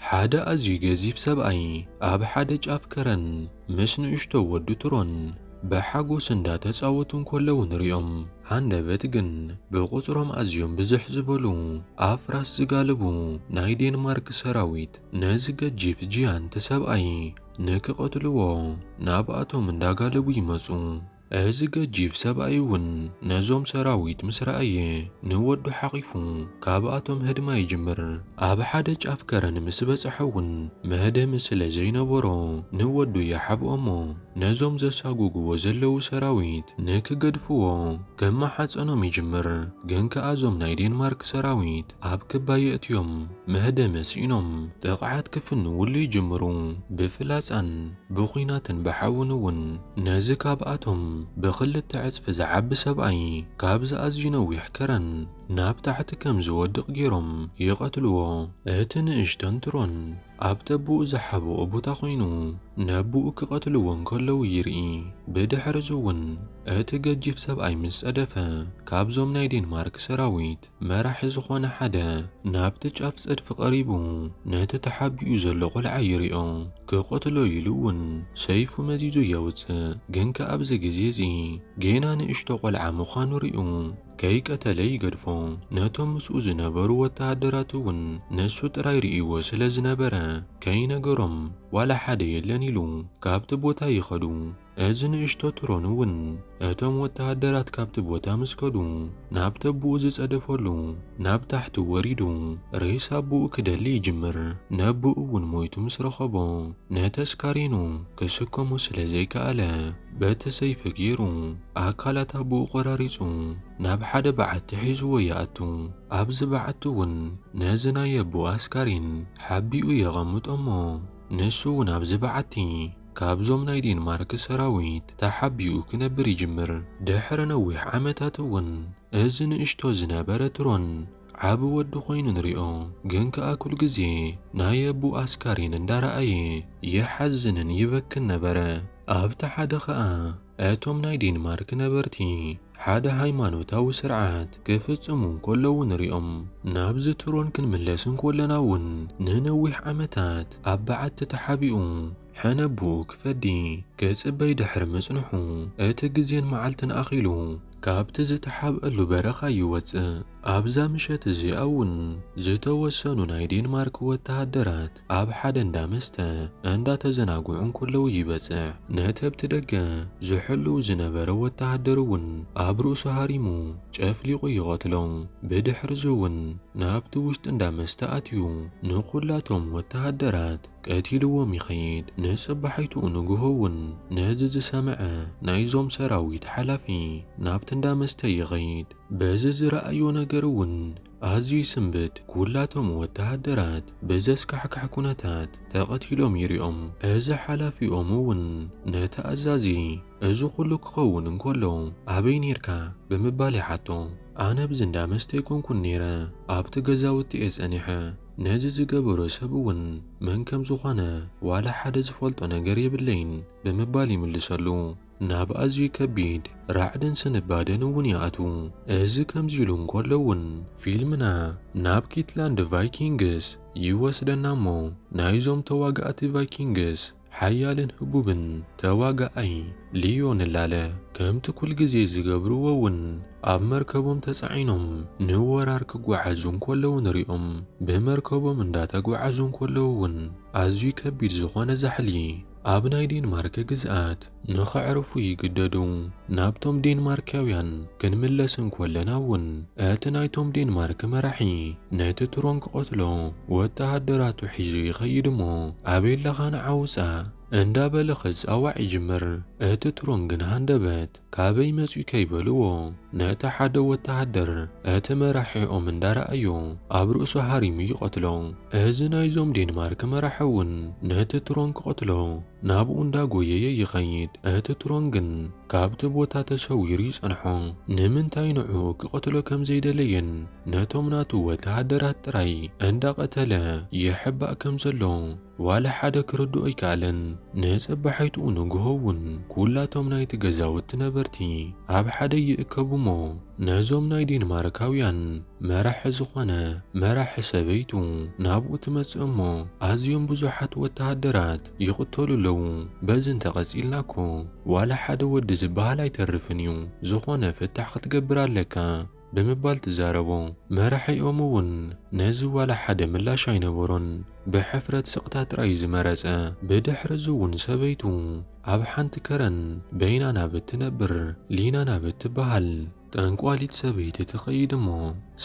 ሓደ ኣዝዩ ገዚፍ ሰብኣይ ኣብ ሓደ ጫፍ ከረን ምስ ንእሽቶ ወዱ ትሮን ብሓጎስ እንዳተጻወቱ እንከለዉ ንሪኦም። ሃንደበት ግን ብቑጽሮም ኣዝዮም ብዝሕ ዝበሉ ኣብ ፍራስ ዝጋልቡ ናይ ዴንማርክ ሰራዊት ነዚ ገጂፍ ጂያንት ሰብኣይ ንክቐትልዎ ናብኣቶም እንዳጋለቡ ይመጹ። እዚ ገጂፍ ሰብኣይ እውን ነዞም ሰራዊት ምስ ረኣየ ንወዱ ሓቚፉ ካብኣቶም ህድማ ይጅምር። ኣብ ሓደ ጫፍ ከረን ምስ በጽሐ እውን መህደሚ ስለ ዘይነበሮ ንወዱ ይሓብኦ እሞ ነዞም ዘሳጉጉዎ ዘለዉ ሰራዊት ንክገድፍዎ ከማሓጸኖም ይጅምር። ግን ከኣ እዞም ናይ ዴንማርክ ሰራዊት ኣብ ክባ የእትዮም መህደሚ ስኢኖም ጥቕዓት ክፍንዉሉ ይጅምሩ። ብፍላጻን ብኩናትን ብሓውን እውን ነዚ ካብኣቶም ብክልተ ዕጽፊ ዝዓቢ ሰብኣይ ካብዚ ኣዝዩ ነዊሕ ከረን ናብ ታሕቲ ከም ዝወድቕ ገይሮም ይቐትልዎ። እቲ ንእሽቶን ትሮን ኣብ ተብኡ ዝሓብኦ ቦታ ኮይኑ ነብኡ ክቐትልዎ እንከለዉ ይርኢ። ብድሕርዚ እውን እቲ ገጂፍ ሰብኣይ ምስ ጸደፈ ካብዞም ናይ ዴንማርክ ሰራዊት መራሒ ዝኾነ ሓደ ናብቲ ጫፍ ጸድፊ ቀሪቡ ነቲ ተሓቢኡ ዘሎ ቆልዓ ይሪኦ። ክቐትሎ ኢሉ እውን ሰይፉ መዚዙ የውጽእ። ግን ከኣ ኣብዚ ግዜ እዚ ጌና ንእሽቶ ቆልዓ ምዃኑ ሪኡ ከይቀተለ ይገድፎ። ነቶም ምስኡ ዝነበሩ ወተሃደራት እውን ንሱ ጥራይ ሪኢዎ ስለ ዝነበረ ከይነገሮም ዋላ ሓደ የለን ኢሉ ካብቲ ቦታ ይኸዱ። እዚ ንእሽቶ ትሮን እውን እቶም ወተሃደራት ካብቲ ቦታ ምስ ከዱ ናብ ተቡኡ ዝጸደፈሉ ናብ ታሕቲ ወሪዱ ሬሳ ኣቡኡ ክደሊ ይጅምር። ነቡኡ እውን ሞይቱ ምስ ረኸቦ ነቲ ኣስካሬኑ ክስከሞ ስለ ዘይከኣለ በቲ ሰይፊ ገይሩ ኣካላት ኣቡኡ ቆራሪጹ ናብ ሓደ በዓቲ ሒዝዎ ይኣቱ። ኣብዚ በዓቲ እውን ነዚ ናይ ኣቡኡ ኣስካሬን ሓቢኡ የቐምጦ እሞ ንሱ እውን ኣብዚ በዓቲ ካብዞም ናይ ዴንማርክ ሰራዊት ተሓቢኡ ክነብር ይጅምር። ድሕሪ ነዊሕ ዓመታት እውን እዚ ንእሽቶ ዝነበረ ትሮን ዓቢ ወዲ ኮይኑ ንሪኦ። ግን ከኣ ኩል ግዜ ናይ ኣቡኡ ኣስካሬን እንዳረኣየ ይሓዝንን ይበክን ነበረ። ኣብቲ ሓደ ከኣ እቶም ናይ ዴንማርክ ነበርቲ ሓደ ሃይማኖታዊ ስርዓት ክፍጽሙ እንከለዉ ንሪኦም። ናብዚ ትሮን ክንምለስ እንኮለና እውን ንነዊሕ ዓመታት ኣብ በዓቲ ተሓቢኡ ሕነብኡ ክፈዲ ክጽበይ ድሕሪ ምጽንሑ እቲ ግዜን መዓልትን ኣኺሉ ካብቲ ዝተሓብኣሉ በረኻ ይወጽእ። ኣብዛ ምሸት እዚኣ እውን ዝተወሰኑ ናይ ዴንማርክ ወተሃደራት ኣብ ሓደ እንዳ መስተ እንዳተዘናግዑ እንከለዉ ይበጽሕ። ነቲ ኣብቲ ደገ ዝሕልው ዝነበረ ወተሃደር እውን ኣብ ርእሱ ሃሪሙ ጨፍሊቑ ይቐትሎ። ብድሕርዚ እውን ናብቲ ውሽጢ እንዳ መስተ ኣትዩ ንኹላቶም ወተሃደራት ቀቲልዎም ይኸይድ። ንጽባሒትኡ ንግሆ እውን ነዚ ዝሰምዐ ናይዞም ሰራዊት ሓላፊ ናብቲ እንዳ መስተ ይኸይድ። በዚ ዝረኣዮ ነገር እውን ኣዝዩ ይስንብድ፣ ኩላቶም ወተሃደራት ብዘስካሕክሕ ኩነታት ተቐቲሎም ይሪኦም፣ እዚ ሓላፊኦም እውን ነቲ ኣዛዚ እዚ ኩሉ ክኸውን እንከሎ ኣበይ ኔርካ ብምባል ይሓቶ፣ ኣነ ኣብዚ እንዳ መስተ ኣይኮንኩን ኔረ ኣብቲ ገዛውቲ እየ ጸኒሐ፣ ነዚ ዝገበሮ ሰብ እውን መን ከምዝኾነ ዋላ ሓደ ዝፈልጦ ነገር የብለይን ብምባል ይምልሰሉ። ናብ ኣዝዩ ከቢድ ራዕድን ስንባደን እውን ይኣትዉ። እዚ ከምዚ ኢሉ እንከሎ እውን ፊልምና ናብ ኪትላንድ ቫይኪንግስ ይወስደና እሞ ናይዞም ተዋጋእቲ ቫይኪንግስ ሓያልን ህቡብን ተዋጋኣይ ሊዮ ንላለ። ከምቲ ኩል ግዜ ዝገብርዎ እውን ኣብ መርከቦም ተጻዒኖም ንወራር ክጓዓዙ እንከለዉ ንሪኦም። ብመርከቦም እንዳተጓዓዙ እንከለዉ እውን ኣዝዩ ከቢድ ዝኾነ ዛሕሊ ኣብ ናይ ዴንማርክ ግዝኣት ንኸዕርፉ ይግደዱ። ናብቶም ዴንማርክያውያን ክንምለስ እንኮለና'ውን እቲ ናይቶም ዴንማርክ መራሒ ነቲ ትሮን ክቐትሎ ወተሃደራቱ ሒዙ ይኸይድ'ሞ ኣበየለኻ ንዓ ውጻእ! እንዳበለ ክጻዋዕ ይጅምር። እቲ ትሮን ግን ሃንደበት! ካበይ መጽዩ ከይበልዎ ነቲ ሓደ ወተሃደር እቲ መራሒኦም እንዳረኣዮ ኣብ ርእሱ ሃሪሙ ይቐትሎ። እዚ ናይዞም ዴንማርክ መራሒ ውን ነቲ ትሮን ክቐትሎ ናብኡ እንዳጎየየ ይኸይድ። እቲ ትሮን ግን ካብቲ ቦታ ተሰዊሩ ይጸንሖ። ንምንታይ ንዕኡ ክቐትሎ ከምዘይደለየን ነቶም ናቱ ወተሃደራት ጥራይ እንዳቐተለ ይሕባእ ከምዘሎ። ዋላ ሓደ ክርድኦ ኣይከኣለን። ንጸባሒትኡ ንግሆ እውን ኩላቶም ናይቲ ገዛውቲ ነበርቲ ኣብ ሓደ ይእከቡ'ሞ ነዞም ናይ ዴንማርካውያን መራሒ ዝኾነ መራሒ ሰበይቱ ናብኡ ትመጽእ'ሞ ኣዝዮም ብዙሓት ወተሃደራት ይቕተሉ ኣለዉ። በዚ እንተ ቀጺልና እኮ ዋላ ሓደ ወዲ ዝበሃል ኣይተርፍን እዩ። ዝኾነ ፍታሕ ክትገብር ኣለካ። ብምባል ትዛረቦ። መራሒኦም እውን ነዚ ዋላ ሓደ ምላሽ ኣይነበሮን። ብሕፍረት ስቕታ ጥራይ ዝመረጸ። ብድሕርዚ እውን ሰበይቱ ኣብ ሓንቲ ከረን በይና ናብ እትነብር ሊና ናብ እትበሃል ጠንቋሊት ሰበይቲ ትኸይድ እሞ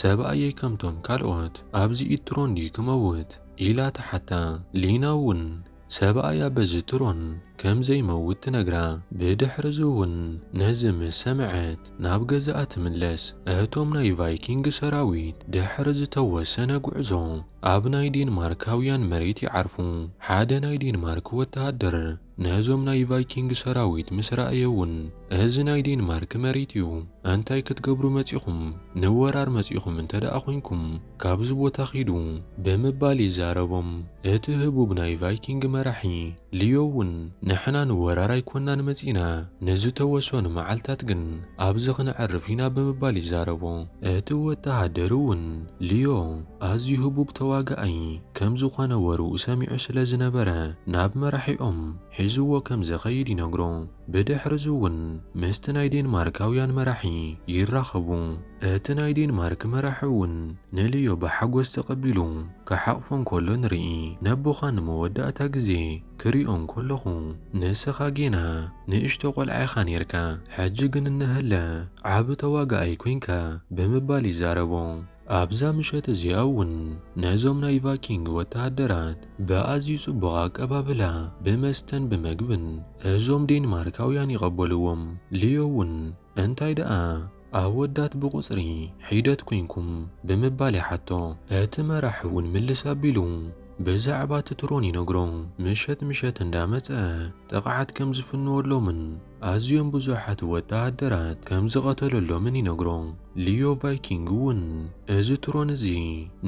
ሰብኣየይ ከምቶም ካልኦት ኣብዚ ኢትሮንዲ ክመውት? ኢላ ትሓታ። ሊና እውን። ሰብኣያ በዚ ትሮን ከም ዘይመውት ትነግራ። ብድሕርዚ'ውን ነዚ ምስ ሰምዐት ናብ ገዛኣ ትምለስ። እቶም ናይ ቫይኪንግ ሰራዊት ድሕሪ ዝተወሰነ ጉዕዞ ኣብ ናይ ዴንማርካውያን መሬት ይዓርፉ። ሓደ ናይ ዴንማርክ ወተሃደር ነዞም ናይ ቫይኪንግ ሰራዊት ምስ ረኣየ'ውን እዚ ናይ ዴንማርክ መሬት'ዩ፣ እንታይ ክትገብሩ መጺኹም? ንወራር መጺኹም እንተደኣ ኰይንኩም፣ ካብዚ ቦታ ኺዱ ብምባል ይዛረቦም። እቲ ህቡብ ናይ ቫይኪንግ መራሒ ሊዮ እውን ንሕና ንወራር ኣይኰንናን መጺእና፣ ንዝተወሰኑ መዓልትታት ግን ኣብዚ ኽነዕርፍ ኢና ብምባል ይዛረቦ። እቲ ወተሃደር እውን ሊዮ ኣዝዩ ህቡብ ተዋጋኣይ ከም ዝዀነ ወረኡ ሰሚዑ ስለ ዝነበረ ናብ መራሒኦም ሒዝዎ ከም ዚኸይድ ይነግሮ። ብድሕርዚ'ውን ምስቲ ናይ ዴንማርካውያን መራሒ ይራኸቡ። እቲ ናይ ዴንማርክ መራሒ'ውን ንልዮ ብሓጎስ ተቐቢሉ ክሓቝፎ እንከሎ ንርኢ። ነቦኻ ንመወዳእታ ግዜ ክሪኦ እንከለኹ፣ ንስኻ ጌና ንእሽቶ ቈልዓ ኢኻ ኔርካ፣ ሕጂ ግን እነሀለ ዓቢ ተዋጋኣይ ኰንካ ብምባል ይዛረቦ። ኣብዛ ምሸት እዚኣ እውን ነዞም ናይ ቫይኪንግ ወተሃደራት ብኣዝዩ ጽቡቕ ኣቀባብላ ብመስተን ብመግብን እዞም ዴንማርካውያን ይቐበልዎም። ሊዮ እውን እንታይ ደኣ ኣወዳት ብቑጽሪ ሒደት ኰንኩም? ብምባል ይሓቶ። እቲ መራሒ እውን ምልስ ኣቢሉ። ብዛዕባ እቲ ትሮን ይነግሮም። ምሸት ምሸት እንዳመጸ ጥቕዓት ከም ዝፍንወሎምን ኣዝዮም ብዙሓት ወተሃደራት ከም ዝቐተለሎምን ይነግሮም። ሊዮ ቫይኪንግ እውን እዚ ትሮን እዚ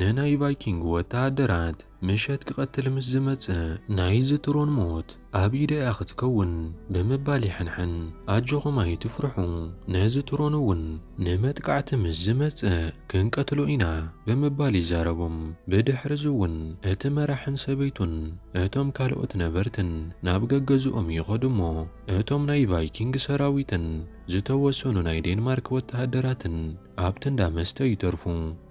ንናይ ቫይኪንግ ወተሃደራት ምሸት ክቐትል ምስ ዝመጽእ ናይዚ ትሮን ሞት ኣብ ኢደ እያ ክትከውን ብምባል ይሕንሕን። ኣጆኹም ኣይትፍርሑ፣ ነዚ ጥሮን እውን ንመጥቃዕቲ ምስ ዝመጽእ ክንቀትሎ ኢና ብምባል ይዛረቦም። ብድሕርዚ እውን እቲ መራሕን ሰበይቱን እቶም ካልኦት ነበርትን ናብ ገገዝኦም ይኸዱ እሞ እቶም ናይ ቫይኪንግ ሰራዊትን ዝተወሰኑ ናይ ዴንማርክ ወተሃደራትን ኣብቲ እንዳ መስተ ይተርፉ።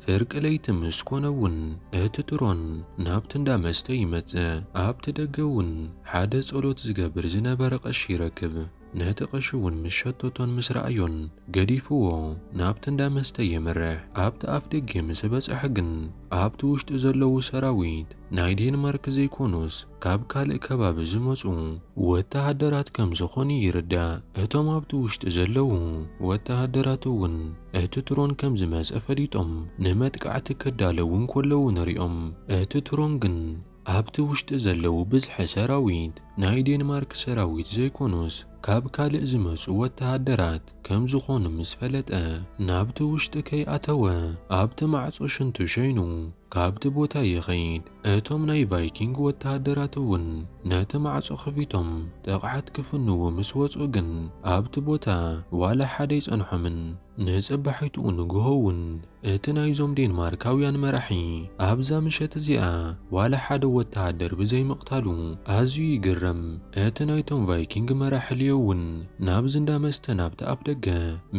ፍርቂ ለይቲ ምስ ኮነ እውን እቲ ትሮን ናብቲ እንዳ መስተ ይመጽእ። ኣብቲ ደገ እውን ሓደ ጸሎት ዝገብር ዝነበረ ቀሺ ይረክብ። ነቲ ቀሺ እውን ምስ ሸተቶን ምስ ረኣዮን ገዲፍዎ ናብቲ እንዳ መስተ የምርሕ። ኣብቲ ኣፍ ደጌ ምስ በጸሐ ግን ኣብቲ ውሽጢ ዘለዉ ሰራዊት ናይ ዴንማርክ ዘይኮኑስ፣ ካብ ካልእ ከባቢ ዝመጹ ወተሃደራት ከም ዝኾኑ ይርዳእ። እቶም ኣብቲ ውሽጢ ዘለዉ ወተሃደራት'ውን እቲ ትሮን ከም ዝመጸ ፈሊጦም ንመጥቃዕቲ ክዳለዉ እንከለዉ ንሪኦም። እቲ ትሮን ግን ኣብቲ ውሽጢ ዘለዉ ብዝሒ ሰራዊት ናይ ዴንማርክ ሰራዊት ዘይኮኑስ ካብ ካልእ ዝመጹ ወተሃደራት ከም ዝኾኑ ምስ ፈለጠ ናብቲ ውሽጢ ከይኣተወ ኣብቲ ማዕጾ ሽንቱ ሸይኑ ካብቲ ቦታ ይኸይድ። እቶም ናይ ቫይኪንግ ወተሃደራት እውን ነቲ ማዕጾ ከፊቶም ጥቕዓት ክፍንዉ ምስ ወጹ ግን ኣብቲ ቦታ ዋላ ሓደ ኣይጸንሖምን። ንጽባሒትኡ ንግሆ እውን እቲ ናይዞም ዴንማርካውያን መራሒ ኣብዛ ምሸት እዚኣ ዋላ ሓደ ወተሃደር ብዘይምቕታሉ ኣዝዩ ይግረም። እቲ ናይቶም ቫይኪንግ መራሒ ሊዮ እውን ናብዚ እንዳ መስተ ናብቲ ኣፍደገ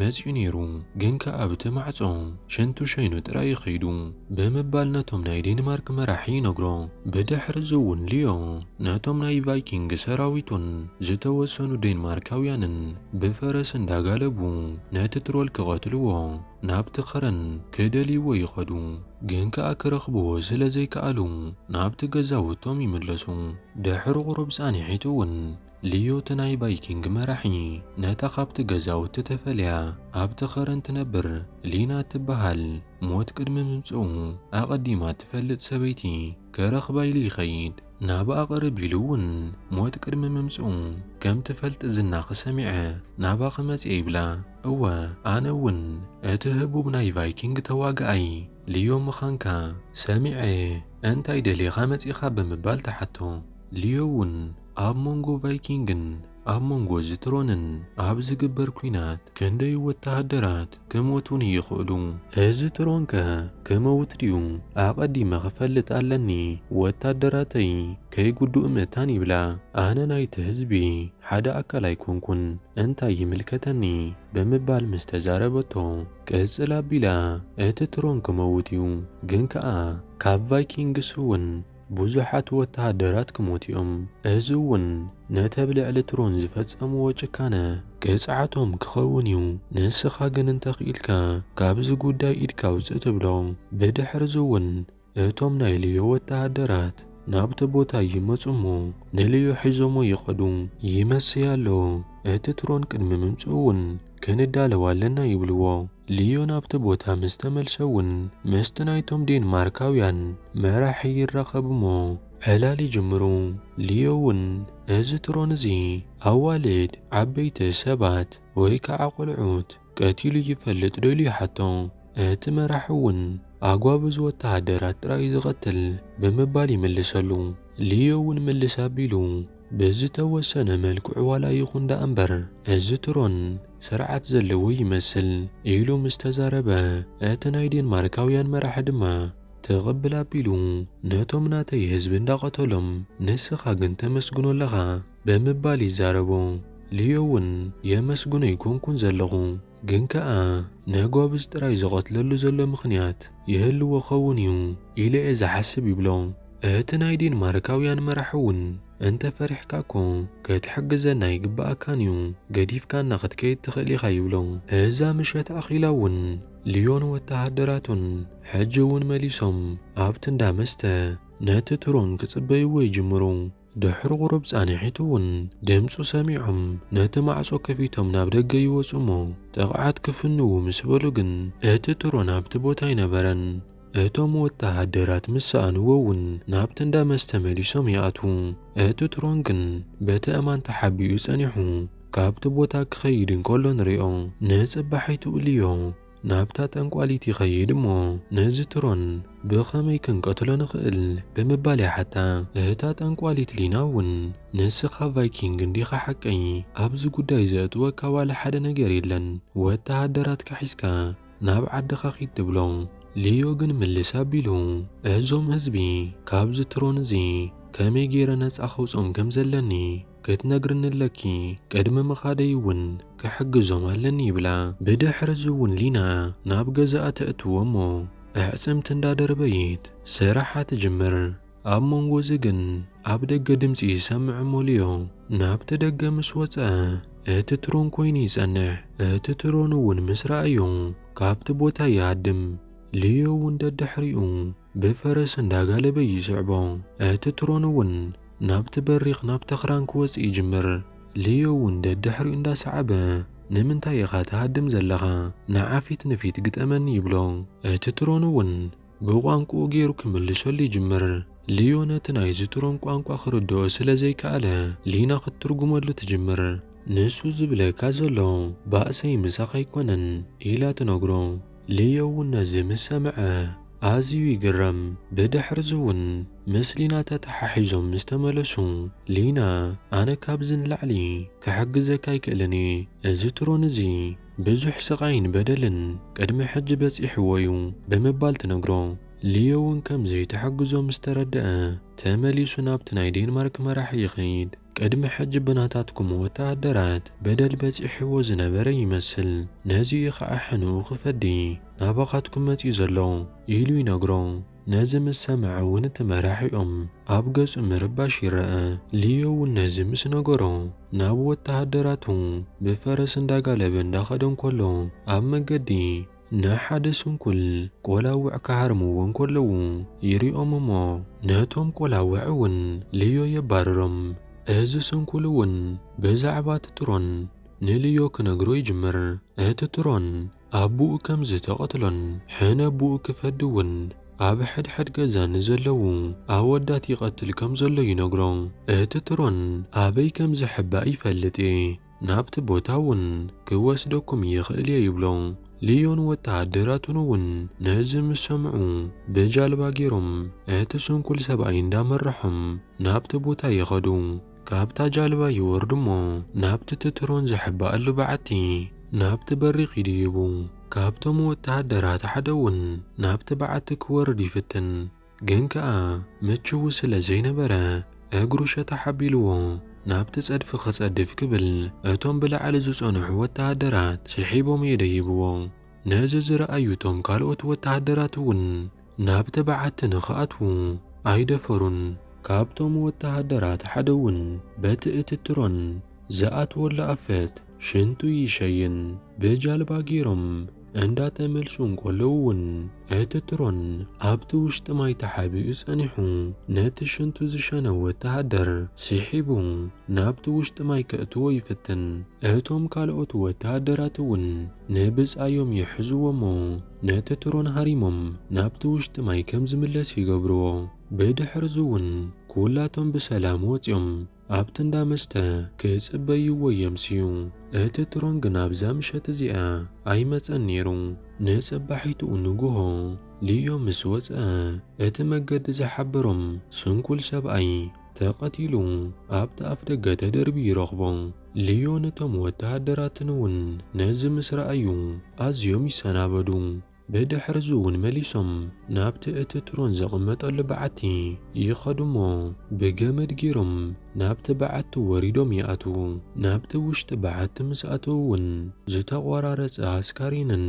መጺኡ ነይሩ፣ ግን ከኣ ኣብቲ ማዕጾ ሽንቱ ሸይኑ ጥራይ እዩ ከይዱ። ብምባል ነቶም ናይ ዴንማርክ መራሒ ይነግሮ። ብድሕርዚ'ውን ሊዮ ነቶም ናይ ቫይኪንግ ሰራዊቱን ዝተወሰኑ ዴንማርካውያንን ብፈረስ እንዳጋለቡ ነቲ ትሮል ክቐትልዎ ናብቲ ኸረን ክደልይዎ ይኸዱ። ግን ከኣ ክረኽብዎ ስለ ዘይከኣሉ ናብቲ ገዛውቶም ይምለሱ። ድሕሪ ቁሩብ ጻንሒት'ውን ልዮት ናይ ቫይኪንግ መራሒ ነታ ካብቲ ገዛውቲ ተፈልያ ኣብቲ ኸረን ትነብር ሊና እትበሃል ሞት ቅድሚ ምምጽኡ ኣቐዲማ እትፈልጥ ሰበይቲ ከረኽባ ኢሉ ይኸይድ። ናብኣ ቅርብ ኢሉ እውን ሞት ቅድሚ ምምጽኡ ከም ትፈልጥ ዝናኺ ሰሚዐ ናባኺ መጺኤ ይብላ። እወ ኣነ እውን እቲ ህቡብ ናይ ቫይኪንግ ተዋጋኣይ ልዮ ምኻንካ ሰሚዐ እየ እንታይ ደሊኻ መጺኻ ብምባል ትሓቶ። ልዮ እውን ኣብ መንጎ ቫይኪንግን ኣብ መንጎ ዝትሮንን ኣብ ዝግበር ኲናት ክንደይ ወተሃደራት ክሞቱኒ ይኽእሉ? እዚ ትሮን ከ ክመውት ድዩ? ኣቐዲመ ክፈልጥ ኣለኒ፣ ወታደራተይ ከይጉድኡ ምእታን ይብላ። ኣነ ናይቲ ህዝቢ ሓደ ኣካል ኣይኮንኩን፣ እንታይ ይምልከተኒ? ብምባል ምስ ተዛረበቶ ቅጽል ኣቢላ እቲ ትሮን ክመውት እዩ፣ ግን ከኣ ካብ ቫይኪንግስ እውን ብዙሓት ወተሃደራት ክሞቱ'ዮም፣ እዚ'ውን ነቲ ኣብ ልዕሊ ትሮን ዝፈጸምዎ ጭካነ ቅጽዓቶም ክኸውን'ዩ፣ ንስኻ ግን እንተ ክኢልካ ካብዚ ጉዳይ ኢድካ ኣውጽእ ትብሎ። ብድሕርዚ'ውን እቶም ናይ ልዮ ወተሃደራት ናብቲ ቦታ ይመጹ'ሞ ንልዮ ሒዞሞ ይኸዱ። ይመሰይ ኣሎ፣ እቲ ትሮን ቅድሚ ምምጽኡ'ውን ክንዳለው ኣለና ይብልዎ። ልዮ ናብቲ ቦታ ምስ ተመልሰ እውን ምስቲ ናይቶም ዴንማርካውያን መራሒ ይራኸብ እሞ ዕላል ይጅምሩ። ልዮ እውን እዚ ትሮን እዚ ኣዋልድ፣ ዓበይቲ ሰባት ወይ ከዓ ቆልዑት ቀቲሉ ይፈልጥ ዶ ኢሉ ይሓቶ። እቲ መራሒ እውን ኣጓብዝ ወተሃደራት ጥራይ እዩ ዝቐትል ብምባል ይምልሰሉ። ልዮ እውን ምልስ ኣቢሉ። ብዝተወሰነ መልክዑ ዋላ ይኹን ደኣ እምበር እዚ ትሮን ስርዓት ዘለዎ ይመስል ኢሉ ምስ ተዛረበ፣ እቲ ናይ ዴንማርካውያን መራሒ ድማ ትቕብል ኣቢሉ ነቶም ናተይ ህዝቢ እንዳቐተሎም ንስኻ ግን ተመስግኖ ኣለኻ ብምባል ይዛረቦ። ሊዮ'ውን የመስግኖ ኣይኮንኩን ዘለኹ። ግን ከኣ ንህጎብዝ ጥራይ ዝቐትለሉ ዘሎ ምኽንያት ይህልዎ ክኸውን እዩ ኢለ'የ ዝሓስብ ይብሎ። እህቲ ናይ ዴንማርካውያን መራሒ'ውን እንተ ፈሪሕካ እኮ ክትሕግዘና ይግበኣካን እዩ፣ ገዲፍካና ክትከይድ ትኽእል ኢኻ ይብሎ። እዛ ምሸት ኣኺላ'ውን ልዮን ወተሃደራቱን ሕጂ'ውን መሊሶም ኣብቲ እንዳ መስተ ነቲ ትሮን ክጽበይዎ ይጅምሩ። ድሕሪ ቁሩብ ጻንሒት እውን ድምጹ ሰሚዖም ነቲ ማዕጾ ከፊቶም ናብ ደገ ይወጹ እሞ ጥቕዓት ክፍንዉ ምስ በሉ ግን እቲ ትሮን ኣብቲ ቦታ ኣይነበረን። እቶም ወተሃደራት ምስ ሰኣንዎ እውን ናብቲ እንዳ መስተ መሊሶም ይኣትዉ። እቲ ትሮን ግን በቲ ኣእማን ተሓቢኡ ጸኒሑ ካብቲ ቦታ ክኸይድ እንከሎ ንሪኦ። ንጽባሒቱ እልዮ። ናብታ ጠንቋሊት ይኸይድ እሞ ነዚ ትሮን ብኸመይ ክንቀትሎ ንኽእል ብምባል ይሓታ። እታ ጠንቋሊት ሊና እውን ንስኻ ቫይኪንግ እንዲኻ ሓቀይ ኣብዚ ጉዳይ ዘእትወካ ዋላ ሓደ ነገር የለን ወተሃደራትካ ሒዝካ ናብ ዓድኻ ኪድ ትብሎ። ሊዮ ግን ምልስ ኣቢሉ እዞም ህዝቢ ካብዚ ትሮን እዚ ከመይ ገይረ ነጻ ከውጾም ከም ዘለኒ ክትነግርኒ ኣለኪ ቅድሚ ምኻደይ እውን ክሕግዞም ኣለኒ ይብላ ብድሕሪ እዚ እውን ሊና ናብ ገዛኣ ተእትዎ እሞ ኣዕፅምቲ እንዳደርበይት ስራሓ ትጅምር ኣብ መንጎ እዚ ግን ኣብ ደገ ድምፂ ይሰምዕ እሞ ሊዮ ናብቲ ደገ ምስ ወፀ እቲ ትሮን ኮይኑ ይፀንሕ እቲ ትሮን እውን ምስ ረኣዮ ካብቲ ቦታ ይሃድም ሊዮ እውን ደድሕሪኡ ብፈረስ እንዳጋለበ ይስዕቦ። እቲ ትሮን እውን ናብቲ በሪኽ ናብ ተኽራን ክወጽእ ይጅምር። ልዮ እውን ደድሕሪኡ እንዳሰዓበ ንምንታይ ኢኻ ትሃድም ዘለኻ ንዓ ፊት ንፊት ግጠመኒ ይብሎ። እቲ ትሮን እውን ብቋንቁኡ ጌሩ ክምልሰሉ ይጅምር። ልዮ ነቲ ናይዚ ትሮን ቋንቋ ክርድኦ ስለ ዘይከኣለ ሊና ክትትርጉመሉ ትጅምር። ንሱ ዝብለካ ዘሎ ባእሰይ ምሳኻ ኣይኮነን ኢላ ትነግሮ። ልዮ'ውን ነዚ ምስ ሰምዐ ኣዝዩ ይግረም። ብድሕር'ዚ'ውን ምስ ሊና ተተሓሒዞም ምስ ተመለሱ፣ ሊና ኣነ ካብዚ ንላዕሊ ክሕግዘካ ኣይክእልን እየ። እዚ ትሮን እዚ ብዙሕ ስቓይን በደልን ቅድሚ ሕጂ በጺሕዎ እዩ ብምባል ትነግሮ። ልዮ'ውን ከም ዘይትሕግዞ ምስ ተረድኣ ተመሊሱ ናብቲ ናይ ዴንማርክ መራሒ ይኸይድ። ቅድሚ ሕጂ ብናታትኩም ወተሃደራት በደል በጺሕዎ ዝነበረ ይመስል፣ ነዚ እዩ ኸኣ ሕንኡ ክፈዲ ናባኻትኩም መጺኡ ዘሎ ኢሉ ይነግሮ። ነዚ ምስ ሰምዐ እውን እቲ መራሒኦም ኣብ ገጹ ምርባሽ ይረኣ። ሊዮ እውን ነዚ ምስ ነገሮ ናብ ወተሃደራቱ ብፈረስ እንዳጋለበ እንዳኸደ እንከሎ ኣብ መገዲ፣ ንሓደ ስንኩል ቆላውዕ ክሃርምዎ እንከለዉ ይሪኦም እሞ ነቶም ቆላውዕ እውን ልዮ የባርሮም። እዚ ስንኩል እውን ብዛዕባ እቲ ትሮን ንልዮ ክነግሮ ይጅምር። እቲ ትሮን ኣቡኡ ከም ዝተቐትሎን ሕነ ኣቡኡ ክፈዲ እውን ኣብ ሕድሕድ ገዛ ንዘለዉ ኣወዳት ይቐትል ከም ዘሎ ይነግሮ። እቲ ትሮን ኣበይ ከም ዝሕባእ ይፈልጥ እየ። ናብቲ ቦታ እውን ክወስደኩም ይኽእል እየ ይብሎ። ልዮን ወተሃደራቱን እውን ነዚ ምስ ሰምዑ ብጃልባ ገይሮም እቲ ስንኩል ሰብኣይ እንዳመረሖም ናብቲ ቦታ ይኸዱ። ካብታ ጃልባ ይወርዱ እሞ ናብቲ ትትሮን ዝሕባኣሉ በዓቲ ናብቲ በሪ ኪዱ ይቡ። ካብቶም ወተሃደራት ሓደ እውን ናብቲ በዓቲ ክወርድ ይፍትን። ግን ከኣ ምችዉ ስለ ዘይነበረ እግሩ ሸታሕ ኣቢልዎ ናብቲ ጸድፊ ክጸድፍ ክብል እቶም ብላዕሊ ዝጸንሑ ወተሃደራት ስሒቦም የደይብዎ። ነዚ ዝረኣዩ እቶም ካልኦት ወተሃደራት እውን ናብቲ በዓቲ ንኽኣትዉ ኣይደፈሩን። ካብቶም ወተሃደራት ሓደ እውን በቲ እቲ ትሮን ዝኣትወሉ ኣፈት ሽንቱ ይሸይን ብጃልባ ገይሮም እንዳተመልሱ እንከለዉ እውን እቲ ትሮን ኣብቲ ውሽጢ ማይ ተሓቢኡ ጸኒሑ ነቲ ሽንቱ ዝሸነ ወተሃደር ስሒቡ ናብቲ ውሽጢ ማይ ከእትዎ ይፍትን። እቶም ካልኦት ወተሃደራት እውን ንብጻዮም ይሕዝዎ'ሞ ነቲ ትሮን ሃሪሞም ናብቲ ውሽጢ ማይ ከም ዝምለስ ይገብርዎ። ብድሕርዚ እውን ኩላቶም ብሰላም ወጺኦም ኣብቲ እንዳ መስተ ክጽበይዎ የምስዩ። እቲ ትሮን ግና ኣብዛ ምሸት እዚኣ ኣይመጸን ነይሩ። ንጽባሒትኡ ንግሆ ሊዮ ምስ ወጸ፣ እቲ መገዲ ዝሓበሮም ስንኩል ሰብኣይ ተቐቲሉ ኣብቲ ኣፍደገ ተደርብዩ ይረኽቦ። ሊዮን እቶም ወተሃደራትን እውን ነዚ ምስ ረኣዩ ኣዝዮም ይሰናበዱ። ብድሕርዚውን መሊሶም ናብቲ እቲ ትሮን ዘቐመጠሉ በዓቲ ይኸዱ እሞ፣ ብገመድ ገይሮም ናብቲ በዓቲ ወሪዶም ይኣትዉ። ናብቲ ውሽጢ በዓቲ ምስ ኣተዉ እውን ዝተቖራረጸ ኣስካሬንን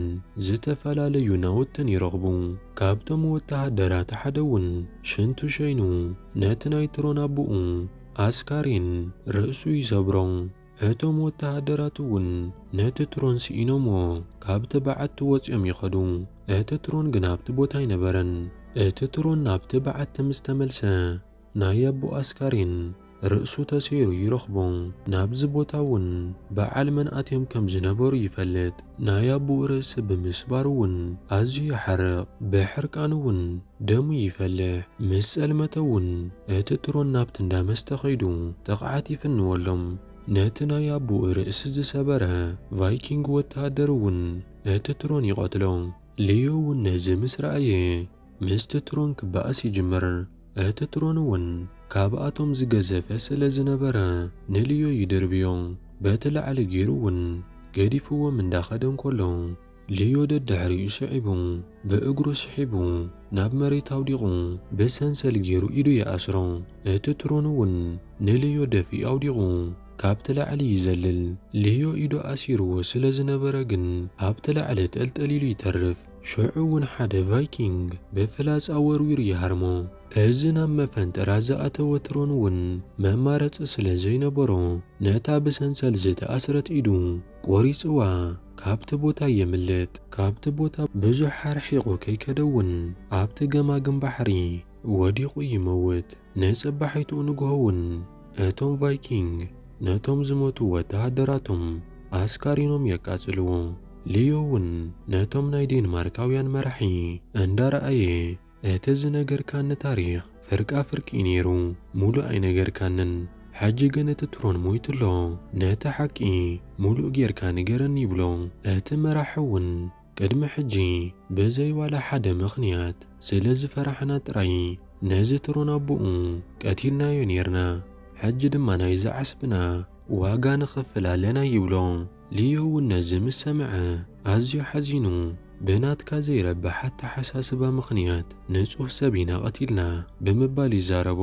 ዝተፈላለዩ ናውትን ይረኽቡ። ካብቶም ወተሃደራት ሓደ እውን ሽንቱ ሸይኑ ነቲ ናይ ትሮን ኣቦኡ ኣስካሬን ርእሱ ይሰብሮ። እቶም ወተሃደራት እውን ነቲ ትሮን ስኢኖምዎ ካብቲ በዓቲ ወጺኦም ይኸዱ፣ እቲ ትሮን ግን ኣብቲ ቦታ ኣይነበረን። እቲ ትሮን ናብቲ በዓቲ ምስ ተመልሰ፣ ናይ ኣቦኡ ኣስካሬን ርእሱ ተሰይሩ ይረኽቦ። ናብዚ ቦታ እውን በዓል መን ኣትዮም ከም ዝነበሩ ይፈልጥ። ናይ ኣቦኡ ርእሲ ብምስባሩ እውን ኣዝዩ ይሓርቕ፣ ብሕርቃን እውን ደሙ ይፈልሕ። ምስ ጸልመተ እውን እቲ ትሮን ናብቲ እንዳ መስተ ከይዱ ጥቕዓት ይፍንወሎም። ነቲ ናይ ኣቡኡ ርእሲ ዝሰበረ ቫይኪንግ ወተሃደር እውን እቲ ትሮን ይቐትሎ። ሊዮ እውን ነዚ ምስ ረኣየ ምስቲ ትሮን ክበኣስ ይጅምር። እቲ ትሮን እውን ካብኣቶም ዝገዘፈ ስለ ዝነበረ ንሊዮ ይድርብዮ። በቲ ላዕሊ ገይሩ እውን ገዲፍዎም እንዳኸደ እንከሎ፣ ልዮ ደድሕሪኡ ስዒቡ ብእግሩ ስሒቡ ናብ መሬት ኣውዲቑ ብሰንሰል ጌሩ ኢዱ ይኣስሮ። እቲ ትሮን እውን ንልዮ ደፊኡ ኣውዲቑ ካብቲ ላዕሊ ይዘልል። ልዮ ኢዱ ኣሲርዎ ስለ ዝነበረ ግን ኣብቲ ላዕሊ ጠልጠል ኢሉ ይተርፍ። ሽዑ እውን ሓደ ቫይኪንግ ብፍላጻ ወርዊሩ ይሃርሞ። እዚ ናብ መፈንጠራ ዝኣተወ ትሮን እውን መማረጺ ስለ ዘይነበሮ ነታ ብሰንሰል ዝተኣስረት ኢዱ ቆሪጽዋ ካብቲ ቦታ የምልጥ። ካብቲ ቦታ ብዙሕ ኣርሒቑ ከይከደ'ውን ኣብቲ ገማግም ባሕሪ ወዲቑ ይመውት። ንጽባሒትኡ ንግሆ'ውን እቶም ቫይኪንግ ነቶም ዝሞቱ ወተሃደራቶም ኣስካሪኖም የቃጽልዎ። ሊዮ'ውን ነቶም ናይ ዴንማርካውያን መራሒ እንዳረኣየ እቲ ዝነገርካኒ ታሪኽ ፍርቃ ፍርቂ እዩ ነይሩ ሙሉእ ኣይነገርካንን ሕጂ ግን እቲ ትሮን ሞይቱ ኣሎ ነቲ ሓቂ ሙሉእ ጌርካ ንገረኒ ይብሎ እቲ መራሒ ውን ቅድሚ ሕጂ ብዘይ ዋላ ሓደ ምኽንያት ስለ ዝፈራሕና ጥራይ ነዚ ትሮን ኣቡኡ ቀቲልናዮ ኔርና ሕጂ ድማ ናይዚ ዓስብና ዋጋ ንኽፍል ኣለና ይብሎ ሊዮ እውን ነዚ ምስ ሰምዐ ኣዝዩ ሓዚኑ፣ ብናትካ ዘይረብሕ ኣተሓሳስባ ምኽንያት ንጹህ ሰብ ኢና ቐቲልና ብምባል ይዛረቦ።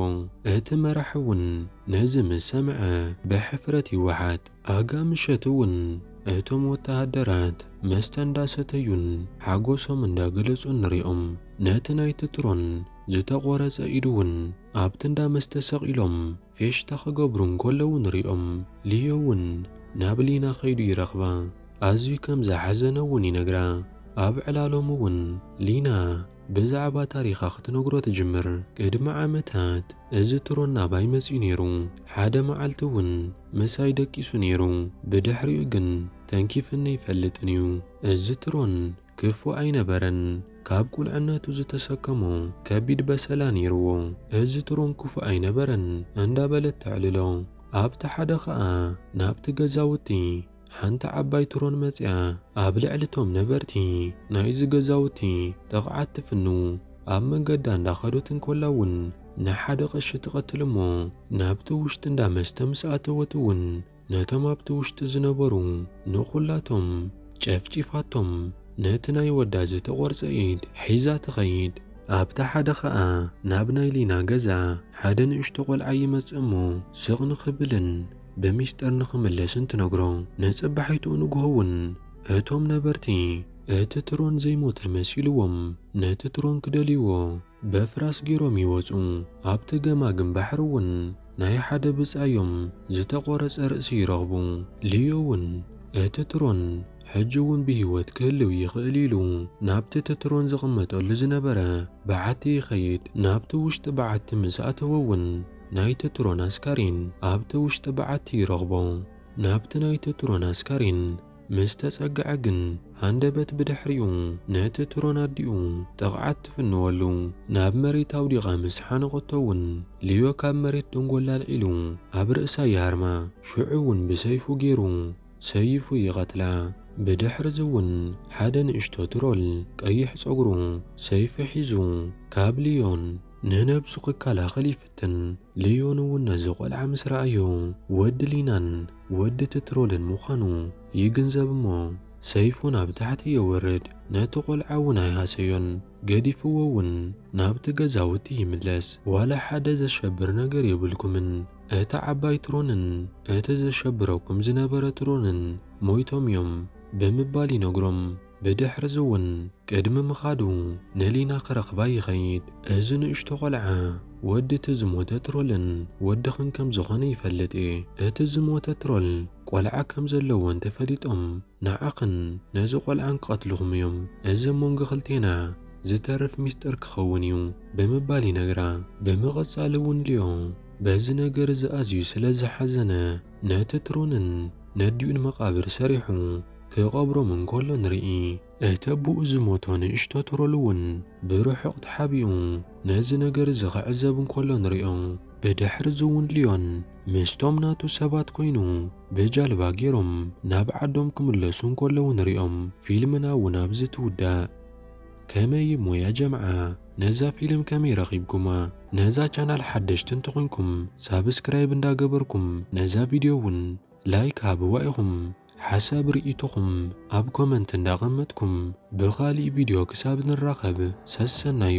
እቲ መራሒ እውን ነዚ ምስ ሰምዐ ብሕፍረት ይወሓጥ። ኣጋ ምሸት እውን እቶም ወተሃደራት መስተ እንዳሰተዩን ሓጎሶም እንዳገለጹን ንሪኦም። ነቲ ናይቲ ትሮን ዝተቖረጸ ኢዱ እውን ኣብቲ እንዳ መስተ ሰቒሎም ፌሽታ ክገብሩ እንከለዉ ንሪኦም። ሊዮ እውን ናብ ሊና ከይዱ ይረኽባ፣ ኣዝዩ ከም ዝሓዘነ እውን ይነግራ። ኣብ ዕላሎም እውን ሊና ብዛዕባ ታሪኻ ክትነግሮ ትጅምር። ቅድሚ ዓመታት እዚ ትሮን ናባይ መጺኡ ነይሩ፣ ሓደ መዓልቲ እውን ምሳይ ደቂሱ ነይሩ፣ ብድሕሪኡ ግን ተንኪፍኒ ኣይፈልጥን እዩ። እዚ ትሮን ክፉእ ኣይነበረን። ካብ ቁልዕነቱ ዝተሰከሞ ከቢድ በሰላ ነይርዎ። እዚ ትሮን ክፉእ ኣይነበረን እንዳበለት ተዕልሎ። ኣብቲ ሓደ ከኣ ናብቲ ገዛውቲ ሓንቲ ዓባይ ትሮን መጺኣ ኣብ ልዕሊ እቶም ነበርቲ ናይዚ ገዛውቲ ጥቕዓት ትፍንው። ኣብ መንገዳ እንዳኸደት እንከላ እውን ንሓደ ቀሺ ትቐትል እሞ ናብቲ ውሽጢ እንዳ መስተ ምስ ኣተወት እውን ነቶም ኣብቲ ውሽጢ ዝነበሩ ንኹላቶም ጨፍጪፋቶም፣ ነቲ ናይ ወዳ ዝተቖርጸ ኢድ ሒዛ ትኸይድ። ኣብታ ሓደ ኸኣ ናብ ናይ ሊና ገዛ ሓደ ንእሽቶ ቆልዓ ይመጽእ እሞ ስቕ ንኽብልን ብሚስጥር ንኽምለስን ትነግሮ። ንጽባሒትኡ ንግሆ እውን እቶም ነበርቲ እቲ ትሮን ዘይሞተ መሲልዎም ነቲ ትሮን ክደልይዎ፣ በፍራስ ጌሮም ይወጹ ኣብቲ ገማግም ባሕሪ ውን ናይ ሓደ ብጻዮም ዝተቆረጸ ርእሲ ይረኽቡ። ሊዮ ውን እቲ ትሮን ሕጂ ውን ብሂወት ክህልው ይኽእል ኢሉ ናብቲ እቲ ትሮን ዝቕመጠሉ ዝነበረ በዓቲ ይኸይድ። ናብቲ ውሽጢ በዓቲ ምስ ኣተወ ውን ናይቲ ትሮን ኣስካሬን ኣብቲ ውሽጢ በዓቲ ይረኽቦ። ናብቲ ናይቲ ትሮን ኣስካሬን ምስ ተጸግዐ ግን ሃንደበት ብድሕሪኡ ነቲ ትሮን ኣዲኡ ጥቕዓት ትፍንወሉ። ናብ መሬት ኣውዲቓ ምስ ሓነቖቶ እውን ልዮ ካብ መሬት ደንጎላ ኣልዒሉ ኣብ ርእሳ ይሃርማ። ሽዑ እውን ብሰይፉ ገይሩ ሰይፉ ይቐትላ። ብድሕርዚ እውን ሓደ ንእሽቶ ትሮል ቀይሕ ጸጉሩ ሰይፊ ሒዙ ካብ ልዮን ንነብሱ ክከላኸል ይፍትን። ግን ልዮን እውን ነዚ ቆልዓ ምስ ረኣዮ ወዲ ሊናን ወዲ ትትሮልን ምዃኑ ይግንዘብ እሞ ሰይፉ ናብ ታሕቲ የውርድ ነቲ ቆልዓ እውን ኣይሃሰዮን ገዲፍዎ እውን ናብቲ ገዛውቲ ይምለስ ዋላ ሓደ ዘሸብር ነገር የብልኩምን እታ ዓባይ ትሮንን እቲ ዘሸብረኩም ዝነበረ ትሮንን ሞይቶም እዮም ብምባል ይነግሮም። ብድሕርዚውን ቅድሚ ምኻዱ ንሊና ክረኽባ ይኸይድ። እዚ ንእሽቶ ቆልዓ ወዲ እቲ ዝሞተ ትሮልን ወድኽን ከም ዝኾነ ይፈልጥ እየ። እቲ ዝሞተ ትሮል ቆልዓ ከም ዘለዎ እንተ ፈሊጦም ንዓኽን ነዚ ቆልዓን ክቐትልኹም እዮም። እዚ ኣብ መንጎ ክልቴና ዝተርፍ ሚስጥር ክኸውን እዩ ብምባል ይነግራ። ብምቕጻልውን ሊዮ በዚ ነገር እዚ ኣዝዩ ስለ ዝሓዘነ ነቲ ትሮንን ነዲኡን መቓብር ሰሪሑ። ክቐብሮም እንከሎ ንርኢ። እቲ ኣቦኡ ዝሞቶ ንእሽቶ ትሮል እውን ብርሑቕ ተሓቢኡ ነዚ ነገር እዚ ክዕዘብ እንከሎ ንሪኦ። ብድሕሪ እዚ እውን ሊዮን ምስቶም ናቱ ሰባት ኮይኑ ብጃልባ ገይሮም ናብ ዓዶም ክምለሱ እንከለዉ ንሪኦም። ፊልምና እውን ኣብዚ ትውዳእ። ከመይ እሞ ያ ጀምዓ ነዛ ፊልም ከመይ ረኺብኩማ? ነዛ ቻናል ሓደሽቲ እንተኾይንኩም ሳብስክራይብ እንዳገበርኩም ነዛ ቪድዮ እውን ላይክ ሃብዋ ኢኹም ሓሳብ ሪኢቶኹም ኣብ ኮመንት እንዳ ኣቐመጥኩም ብኻሊእ ቪድዮ ክሳብ ንራኸብ ሰሰናዩ።